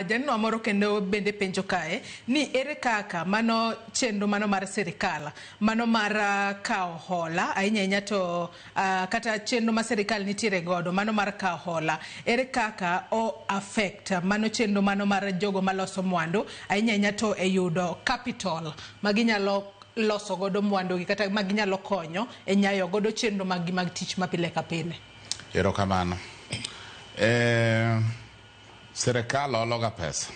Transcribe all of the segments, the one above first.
Jajanwa moro kendo bende penjo kae ni ere kaka mano chenro mano mar sirikal mano mar ah, kawo hola ahinya ahinya to ah, kata chenro ma sirikal nitiere godo mano mar kawo hola ere kaka o affect mano chenro mano mar jogo maloso mwandu ahinya ahinya to e yudo capital ma ginyalo loso godo mwandugi kata ma ginyalo konyo e nyayo godo chenro maggi mag tich ma pile ka pile. Erokamano. Eh, Sirkal ologa pesa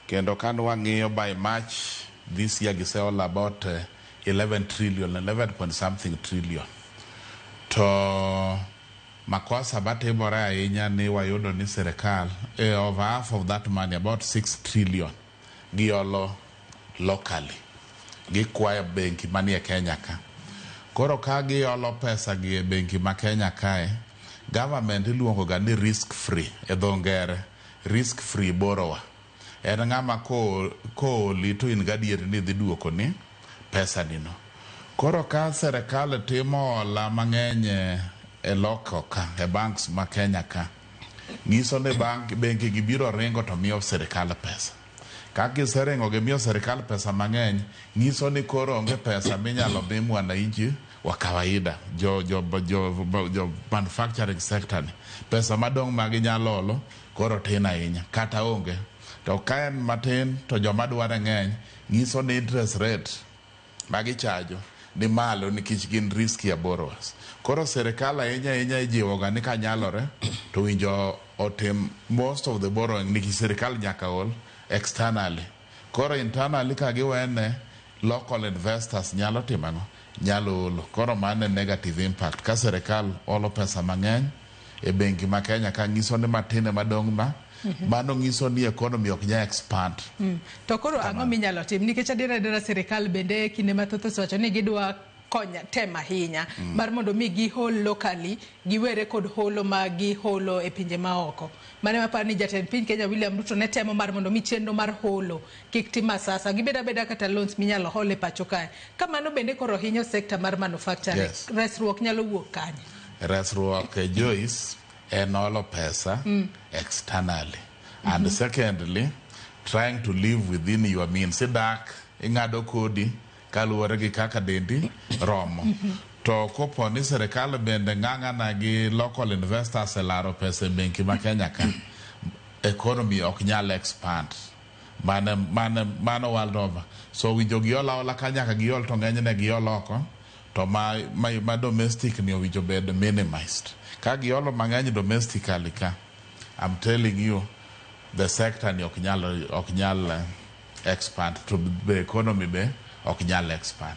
kendo ka wang'iyo by March this year giseolo about eh, 11 trillion, 11 point something trillion. To makosa matimore ahinya ni wayudo ni sirkal eh, over half of that money about 6 trillion giolo locally, gikwayo benki manie Kenya ka. Koro ka giolo pesa gi e benki ma Kenya kae, government iluongo ga ni risk free e dho ngere, risk free borrower. En ng'ama ko kooli to in gadier ni dhi duokoni pesa ni no. Koro ka serikal timo hola mang'eny e local ka, e banks ma Kenya ka. nyiso ni bank, bengi gi biro ringo to miyo sirkal pesa. Ka giseringo gimiyo sirkal pesa mang'eny, nyiso ni koro onge pesa minyalo mi mwananchi wa kawaida, jo, jo, jo, jo, jo manufacturing sector ni. Pesa madong' ma ginyalo olo koro tin ahinya, kata onge. To ka en matin to joma dware ng'eny, nyiso ni interest rate Magi chajo ni malo nikech gin riskier borrowers. Koro serikal ahinya ahinya ijiwoga ni kanyalore to owinjo otim most of the borrowing nikech serikal nyaka hol externally. Koro internally ka giwene local investors nyalo timo ang'o? Nyalo holo. Koro mano e negative impact ka serikal holo pesa mang'eny. e bengi ma Kenya ka ngiso ni matin ema dong ma mhm. mano ngiso ni economy ok nya expand. Mm. To koro ang'o minyalo tim nikech adiera adiera sirikal bende kinde mathoth osewacho ni gidwa konya tem ahinya mm. mar mondo mi gihol locally giwere kod holo ma giholo e pinje maoko mane maparo ni jatend piny Kenya William Ruto ne temo mar mondo mi chenro mar holo kik tim asasa gibed abeda kata loans minyalo hol e pacho kae kamano bende koro hinyo sekta mar manufacturing yes. resruok nyalo wuok kanye Resruok eh, Joyce en olo pesa mm. externally mm -hmm. and mm-hmm. secondly trying to live within your means idak ing'ado kodi kaluwore gi kaka dendi romo mm-hmm. to kopo ni sirikal bende ng'ang'ana gi local investors elaro pesa e benki ma Kenya ka economy ok nyal expand mane mane mano world over so winjo giol aola ka nyaka giol to ng'enyne giol oko To ma ma domestic ni owinjo bed minimized. Ka giolo mang'eny domestically ka, I'm telling you the sector ni ok nyal ok nyal expand to the economy be ok nyal expand.